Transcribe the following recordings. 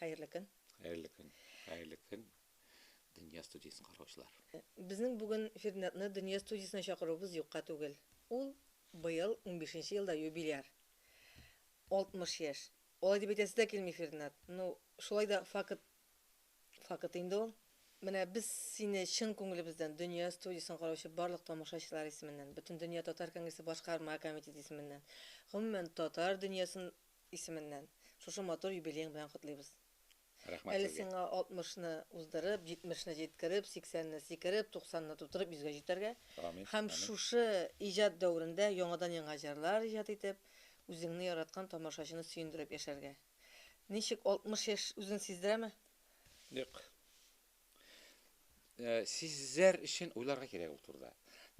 Хәерле көн. Хәерле көн. Хәерле көн, Дөнья студиясен караучылар. Безнең бүген Фирнятны Дөнья студиясенә чакыруыбыз юкка түгел. Ул быел унбишенче елда юбиляр. Алтмыш яшь. Алай дип әйтәсе дә килми, Фирнят. Ну, шулай да факт, факт инде ул. Менә без сине чын күңелебездән Дөнья студиясен караучы барлык тамашачылар исеменнән, Бөтендөнья татар конгрессы башкарма комитеты исеменнән, гомумән татар дөньясын исеменнән шушы матур юбилеең белән котлыйбыз. Рәхмәт Әле сезгә. сиңа алтмышны уздырып, җитмешне җиткереп, сиксәнне сикереп, туксанны тутырып йөзгә җитәргә Амин, һәм амин. шушы иҗат дәверендә яңадан-яңа җырлар иҗат итеп, үзеңне яраткан тамашачыны сөендереп яшәргә. Ничек, алтмыш яшь үзен сиздерәме? Юк. Э, сезләр өчен уйларга кирәк ул турыда.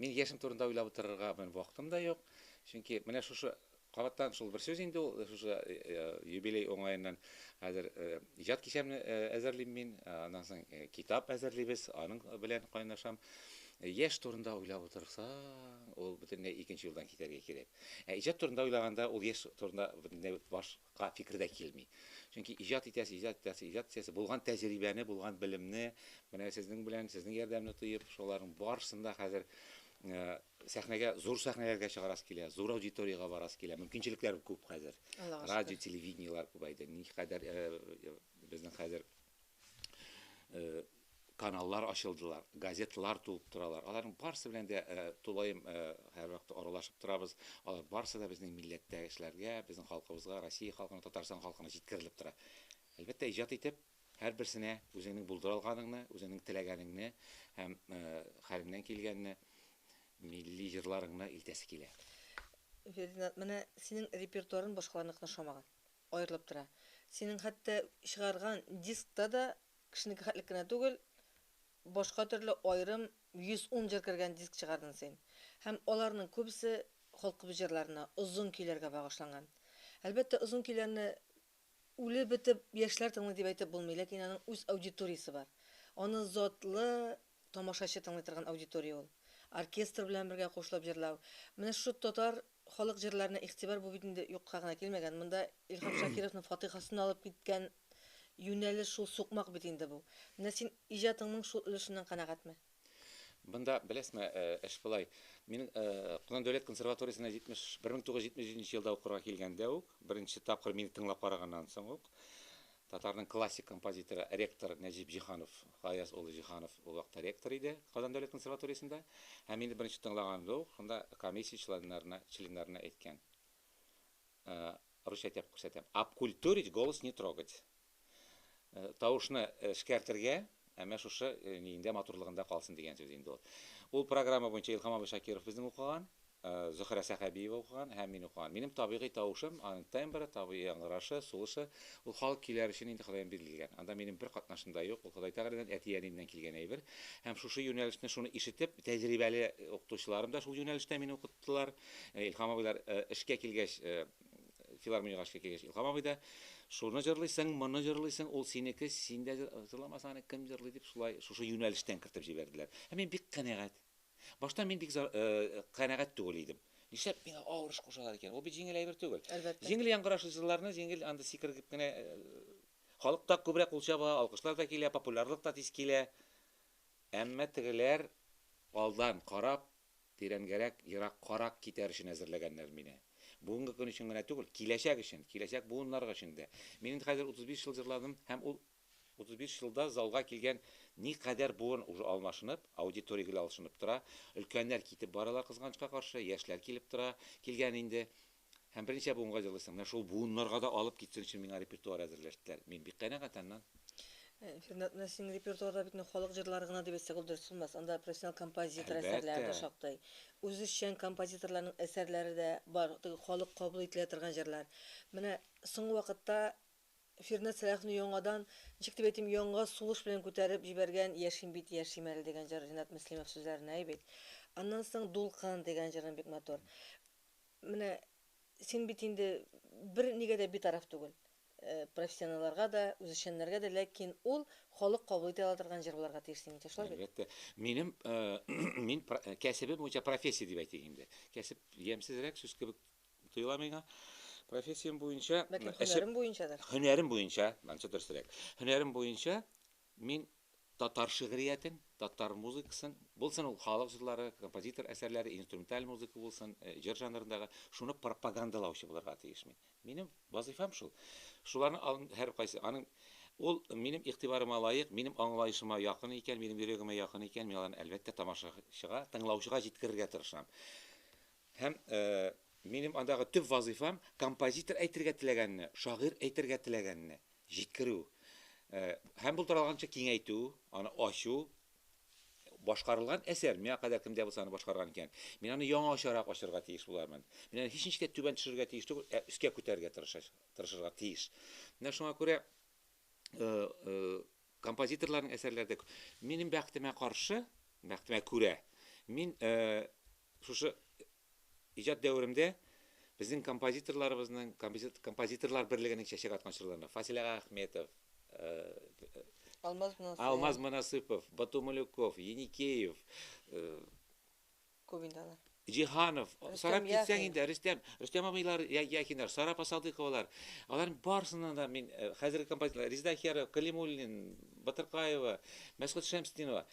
Мин яшем турында уйлап утырырга мен вакытым да юк. Чөнки менә шушы кабаттан шул бер сүз инде ул э, шушы э, юбилей уңаеннан хәзер иҗат кичәмне әзерлим мин, аннан соң китап әзерлибез, аның белән кайнашам. Яшь турында уйлап утырса, ул бөтенләй икенче юлдан китәргә кирәк. Ә иҗат турында уйлаганда ул яшь турында бөтенләй баш га фикер дә килми. Чөнки иҗат итәсе, иҗат итәсе, иҗат итәсе, булган тәҗрибәне, булган белемне менә сезнең белән, сезнең ярдәмне тоеп, шуларның барысын да хәзер сәхнәгә, зур сәхнәләргә чыгарасы килә, зур аудиториягә барасы килә. Мөмкинчелекләр күп хәзер. Радио, телевидениеләр күбәйде. Никадәр безнең хәзер каналлар ачылдылар, газетлар тулып торалар. Аларның барысы белән дә э, тулаем э, һәр вакытта аралашып торабыз. Алар барысы да безнең милләттәшләргә, безнең халкыбызга, Россия халкына, Татарстан халкына җиткерелеп тора. Әлбәттә, иҗат итеп һәр берсенә үзеңнең булдыра алганыңны, үзеңнең теләгәнеңне һәм э, хәлеңнән килгәнне милли җырларыңны илтәсе килә. Фердинанд, менә синең репертуарың башкаларныкына ошамаган. Аерылып тора. Синең хәтта чыгарган дискта да кешенеке хәтлек кенә түгел, башка төрле аерым 110 җыр кергән диск чыгардың син. Һәм аларның күбесе халкыбыз җырларына, озын көйләргә багышланган. Әлбәттә, озын көйләрне үлеп бетеп яшьләр тыңлый дип әйтеп булмый, ләкин аның үз аудиториясе бар. Аны затлы Тамашачы тыңлый торган аудитория ул. Оркестр белән бергә кушылып җырлау. Менә шушы татар халык җырларына игътибар бу бит инде юкка гына килмәгән. Монда Илһам Шакировның фатыйхасын алып киткән юнәлеш шул сукмак бит инде бу. Менә син иҗатыңның шул өлешеннән канәгатьме? Монда, беләсме, эш болай. Мин Казан дәүләт консерваториясенә 71 мең 977 елда укырга килгәндә үк, беренче тапкыр мине тыңлап караганнан соң ук, Татарның классик композиторы, ректор Нәҗип Җиһанов, Гаяз улы Җиһанов ул вакытта ректор иде Казан дәүләт консерваториясендә. Һәм инде беренче тыңлаганымда ук шунда комиссия членнарына членнарына әйткән. Э, русча әйтеп күрсәтәм. Обкультурить, голос не трогать. Э, тавышны эшкәртергә, Ә менә шушы миеңдә матурлыгында калсын дигән сүз инде ул. Ул программа буенча Илһам абый Шакиров безнең укыган, Зөһрә Сәхәбиева укыган һәм мин укыган. Минем табигый тавышым, аның тембры, табигый яңгырашы, сулышы, ул халык көйләре өчен инде Ходаем бирелгән. Анда минем бер катнашым да юк, ул Ходай Тәгаләдән, әти-әниемнән килгән әйбер. Һәм шушы юнәлешне, шуны ишетеп, тәҗрибәле укытучыларым да шул юнәлештә мине укыттылар. Илһам абыйлар эшкә килгәч, Филармониягә эшкә килгәч, Илһам абый да, Шуны җырлыйсың, моны җырлыйсың, ул синеке, син дә җырламасаң, аны кем җырлый, дип, шулай, шушы юнәлештән кертеп җибәрделәр. Һәм мин бик канәгать. Башта мин бик канәгать түгел идем. Нишләп миңа авыр эш кушалар икән? Ул бит җиңел әйбер түгел. Әлбәттә. Җиңел яңгырашучыларны җиңел анда сикергеп кенә Халык та күбрәк кул чаба, алкышлар да килә, популярлык та тиз килә. Әмма тегеләр алдан карап, Тирәнгәрәк, ераккарак китәр өчен әзерләгәннәр мине. Бүгенге көн өчен генә түгел, киләчәк өчен, киләчәк буыннар өчен дә. Мин инде хәзер 35 ел җырладым һәм ул 35 елда залга килгән никадәр буын уже алмашынып, аудитория гел алышынып тора, өлкәннәр китеп баралар, кызганычка каршы, яшьләр килеп тора, килгән инде. Һәм берничә буынга җырлыйсың. Менә шул буыннарга да алып китсен өчен миңа репертуар әзерләштеләр. Мин бик канәгать аннан. Фирнат, менә синең репертуарда бит инде халык җырлары гына дип әйтсәк ул дөрес булмас. Анда профессионал композитор әсәрләре дә шактый. Үзешчән композиторларның әсәрләре дә бар, теге халык кабул ителә торган җырлар. Менә соңгы вакытта Фирнат Сәлаховны яңадан, ничек дип әйтим, яңа сулыш белән күтәреп җибәргән Яшим бит, яшим әле дигән җыр Ринат Мөслимов сүзләренә ай бит. Аннан соң Дулкын дигән җырың бик матур. Менә син бит инде бер нигә дә битараф түгел. Профессионалларга да, үзешчәннәргә дә, ләкин ул халык кабул итә ала торган җыр буларга тиеш синеңчә, шулай бит? Әлбәттә. Минем, мин кәсебем буенча профессия дип әйтик инде. Кәсеп ямьсезрәк сүз кебек тоела миңа. Профессиям буенча. Ләкин һөнәрем буенчадыр? Һөнәрем буенча, ансы дөресрәк. Һөнәрем буенча Мин татар шигъриятен, татар музыкасын, булсын ул халык җырлары, композитор әсәрләре, инструменталь музыка булсын, җыр жанрындагы, шуны пропагандалаучы булырга тиеш мин. Минем вазыйфам шул. Шуларның алдында һәркайсы, аның ул минем игътибарыма лаек, минем аңлаешыма якын икән, минем йөрәгемә якын икән, мин аларны, әлбәттә, тамашачыга, тыңлаучыга җиткерергә тырышам. Һәм минем андагы төп вазыйфам, композитор әйтергә теләгәнне, шагыйрь әйтергә теләгәнне җиткерү. Һәм булдыралганча киңәйтү, аны ачу. Башкарылган әсәр, миңа кадәр кемдә булса аны башкарган икән, мин аны яңачарак ачырга тиеш булармын. Мин аны һичничек тә түбән төшерергә тиеш түгел, ә өскә күтәрергә тырышырга тиеш. Менә шуңа күрә композиторларның әсәрләре дә күп. Минем бәхетемә каршы, бәхетемә күрә, мин Шушы иҗат дәверемдә безнең композиторларыбызның, композиторлар берлегенең чәчәк аткан чорларында Фасил ага Ахметов, Алмаз Монасыпов, Бату Малюков, Еникеев, Җиһанов, санап китсәң инде, Рөстәм, Рөстәм абыйлар, Яхиннар, Сара Апасалдыковалар, аларның барысыннан да мин хәзерге композиторлар, Резеда Ахиярова, Калимуллин, Батыркаева, Мәсгут Шәмсетдинова,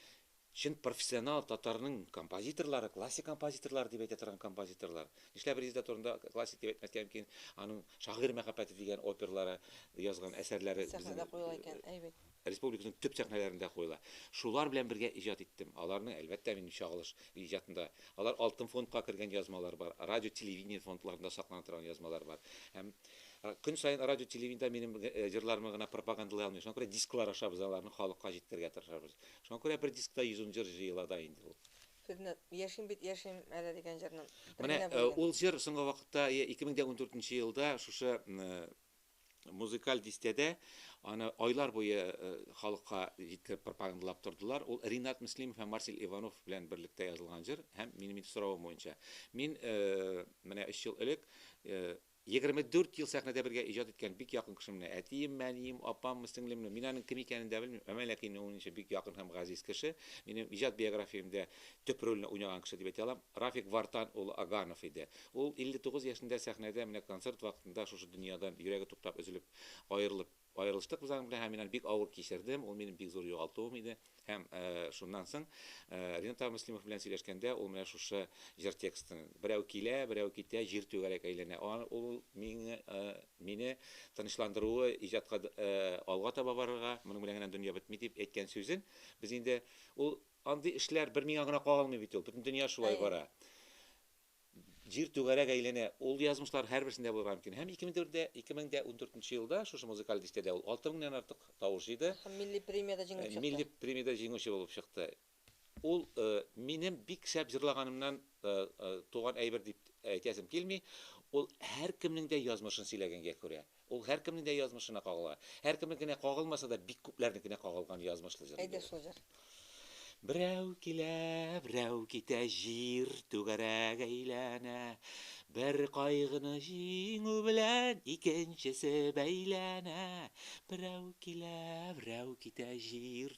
Чын профессионал татарның композиторлары, классик композиторлар дип әйтә торган композиторлар. Нишләп Резеда турында классик дип әйтмәскә мөмкин, аның Шагыйрь мәхәббәте дигән оперлары язган әсәрләре безнең Сәхнәдә куела икән, әй бит. республиканың төп сәхнәләрендә куела. Шулар белән бергә иҗат иттем. Аларның, әлбәттә, минем чагылыш иҗатында. Алар алтын фондка кергән язмалар бар, радио-телевидение фондларында саклана торган язмалар бар. Һәм көн саен радио-телевидениедә минем җырларымны гына пропагандалый алмыйм, шуңа күрә дисклар аша без аларны халыкка җиткерергә тырышабыз. Шуңа күрә бер дискта 110 җыр җыела да инде ул. Сезне Яшим бит, яшим әле дигән җырны бер Менә генә бүлгән. ул җыр соңгы вакытта, йә 2014 елда шушы музыкаль дистәдә аны айлар буе халыкка җиткереп пропагандалап тордылар. Ул Ринат Мөслимов һәм Марсель Иванов белән берлектә язылган җыр һәм минем инде соравым буенча. Мин менә өч ел элек Егерме дүрт ел сәхнәдә бергә иҗат иткән бик якын кешемне, әтиемме, әнием, апаммы, сеңлемме, мин аның кем икәнен дә белмим, әмма ләкин мин уйныйчы бик якын һәм газиз кеше, минем иҗат биографиямдә төп рольне уйнаган кеше дип әйтә алам, Рафик Вартан улы Аганов иде. Ул 59 яшендә сәхнәдә менә концерт вакытында шушы дөньядан йөрәге туктап өзелеп аерылып Аерылыштык без аның белән һәм мин аны бик авыр кичердем, ул минем бик зур югалтуым иде. Һәм шуннан соң Ринат абый Мөслимов белән сөйләшкәндә, ул менә шушы җыр текстын, Берәү килә, берәү китә, җир түгәрәк әйләнә, ул мине тынычландыруы, иҗатка алга таба барырга, моның белән генә дөнья бетми дип әйткән сүзен без инде, ул андый эшләр бер миңа гына кагылмый бит ул, бөтен дөнья шулай бара. Җир түгәрәк әйләнә. Ул язмышлар һәрберсендә булырга мөмкин. Һәм 2004 нче елда шушы музыкаль дистәдә ул алты меңнән артык тавыш җыйды. Һәм милли премиядә җиңеп чыкты. Милли премиядә җиңүче булып чыкты. Ул минем бик шәп җырлаганымнан туган әйбер дип әйтәсем килми. Ул һәркемнең дә язмышын сөйләгәнгә күрә. Ул һәркемнең дә язмышына кагыла. Һәркемнекенә кагылмаса да, бик күпләрнекенә кагылган язмышлы җыр инде Әйдә ул. шул җыр. Берәү килә, берәү китә, Җир түгәрәк әйләнә. Бер кайгыны җиңү белән, Икенчесе бәйләнә. Берәү килә, берәү китә, Җир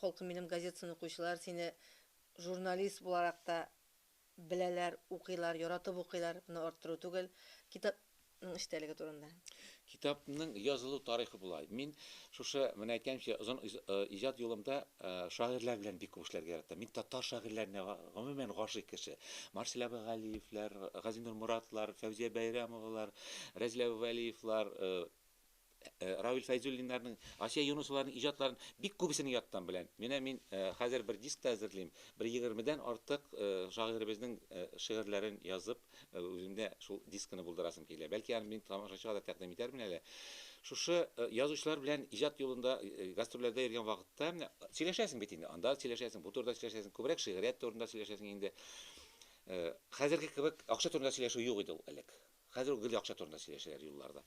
Холкым минем газетасын укучылар сине журналист буларак та беләләр, укыйлар, яратып укыйлар, моны арттыру түгел. Китапның эчтәлеге турында. Китапның язылу тарихы болай. Мин шушы, менә әйткәнемчә, озын иҗат юлымда шагыйрьләр белән бик күп эшләргә яратам. Мин татар шагыйрьләренә гомумән гашыйк кеше. Марсель абый Галиевләр, Газинур Моратлар, Фәүзия Бәйрәмовалар, Рәзил абый Вәлиевлар, Равил Фәйзуллиннарның, Асия Юнысоваларның иҗатларын бик күбесен яттан беләм. Менә мин хәзер бер диск та әзерлим. Бер егермедән артык шагыйребезнең шигырьләрен язып, үземдә шул дискны булдырасым килә. Бәлки аны мин тамашачыга да тәкъдим итәрмен әле. Шушы язучылар белән иҗат юлында гастрольләрдә йөргән вакытта менә сөйләшәсең бит инде. Анда сөйләшәсең, бу турыда сөйләшәсең, күбрәк шигърият турында сөйләшәсең инде. Хәзерге кебек акча турында сөйләшү юк иде ул элек. Хәзер үк гел акча турында сөйләшәләр юлларда.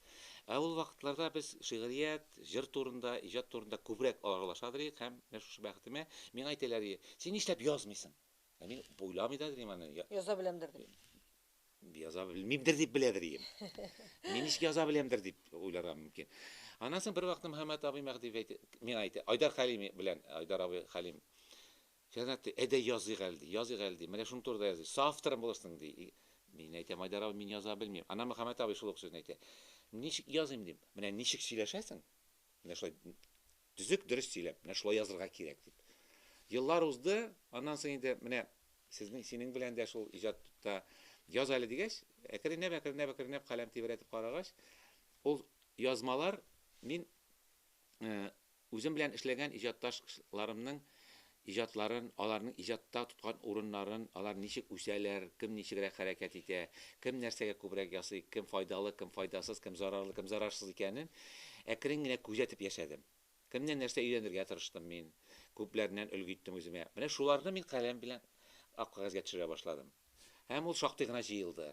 Ә ул вакытларда без шигърият, җыр турында, иҗат турында күбрәк аралашадыр идек һәм менә шушы бәхетемә, миңа әйтәләр иде, Син нишләп язмыйсың? Ә мин уйламый да идем аны. Яза беләмдер дип. Яза белмимдер дип беләдер идем. Мин ничек яза беләмдер дип уйларга мөмкин. Аннан соң бервакыт Мөхәммәт абый Мәһдиев әйтә, миңа әйтә, Айдар Хәлим белән, Айдар абый Хәлим Җәнат ди, әйдә языйк әле, ди, языйк әле, ди, менә шуның турыда языйк, соавторым булырсың, ди. И, мин әйтәм, Айдар абый, мин яза белмим. Ана Мөхәммәт абый шул ук сүзне әйтә. Ничек языйм, дим. Менә ничек сөйләшәсең, менә шулай төзек, дөрес сөйләп, менә шулай язырга кирәк, дип. Еллар узды, аннан соң инде менә сезнең, синең белән дә шул иҗатта яз әле дигәч, әкренләп, әкренләп, әкренләп каләм тибрәтеп карагач, ул язмалар мин Үзем белән эшләгән иҗатташ-ларымның иҗатларын, аларның иҗатта тоткан урыннарын, алар ничек үсәләр, кем ничегрәк хәрәкәт итә, кем нәрсәгә күбрәк ясый, кем файдалы, кем файдасыз, кем зарарлы, кем зарарсыз икәнен әкрен генә күзәтеп яшәдем. Кемнән нәрсә өйрәнергә тырыштым мин, күпләреннән өлге иттем үземә. Менә шуларны мин каләм белән ак кәгазьгә төшерә башладым. Һәм ул шактый гына җыелды.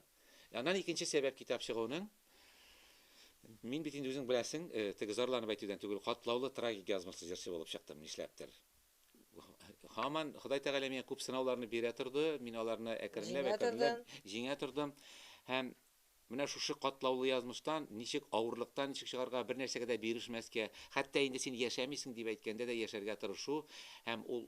Аннан икенче сәбәп китап чыгуның. Мин бит инде үзең беләсең, теге зарланып әйтүдән түгел, катлаулы трагик язмышлы җырчы булып чыктым, нишләптер. Һаман Ходай Тәгалә миңа күп сынауларны бирә торды, мин аларны әкренләп, әкренләп җиңә тордым. Һәм менә шушы катлаулы язмыштан ничек, авырлыктан ничек чыгарга, бер нәрсәгә дә бирешмәскә, хәтта инде син яшәмисең дип әйткәндә дә яшәргә тырышу һәм ул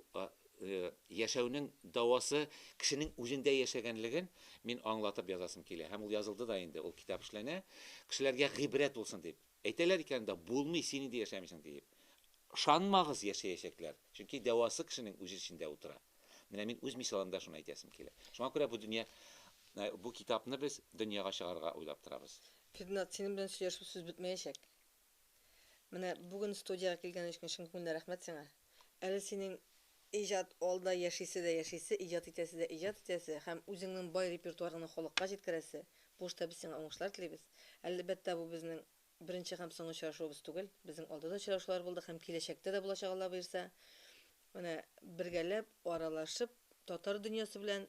Яшәүнең дәвасы кешенең үзендә яшәгәнлеген мин аңлатып язасым килә. Һәм ул язылды да инде, ул китап эшләнә. Кешеләргә гыйбрәт булсын дип. Әйтәләр икән дә, булмый, син инде яшәмисең диеп. Ышанмагыз, яшәячәкләр. Чөнки дәвасы кешенең үз эчендә утыра. Менә мин үз мисалымда шуны әйтәсем килә. Шуңа күрә бу дөнья, бу китапны без дөньяга чыгарырга уйлап торабыз. Фирднат, синең белән сөйләшеп сүз бетмәячәк. Менә бүген студиягә килгән өчен чын күңелдән рәхмәт сиңа. Әле синең иҗат алда яшисе дә яшисе, иҗат итәсе дә иҗат итәсе һәм үзеңнең бай репертуарыңны халыкка җиткерәсе. Бу эштә без сиңа уңышлар телибез. Әлбәттә, бу безнең беренче һәм соңгы очрашуыбыз түгел. Безнең алда да очрашулар булды һәм киләчәктә дә булачак Алла боерса. Менә бергәләп, аралашып, татар дөньясы белән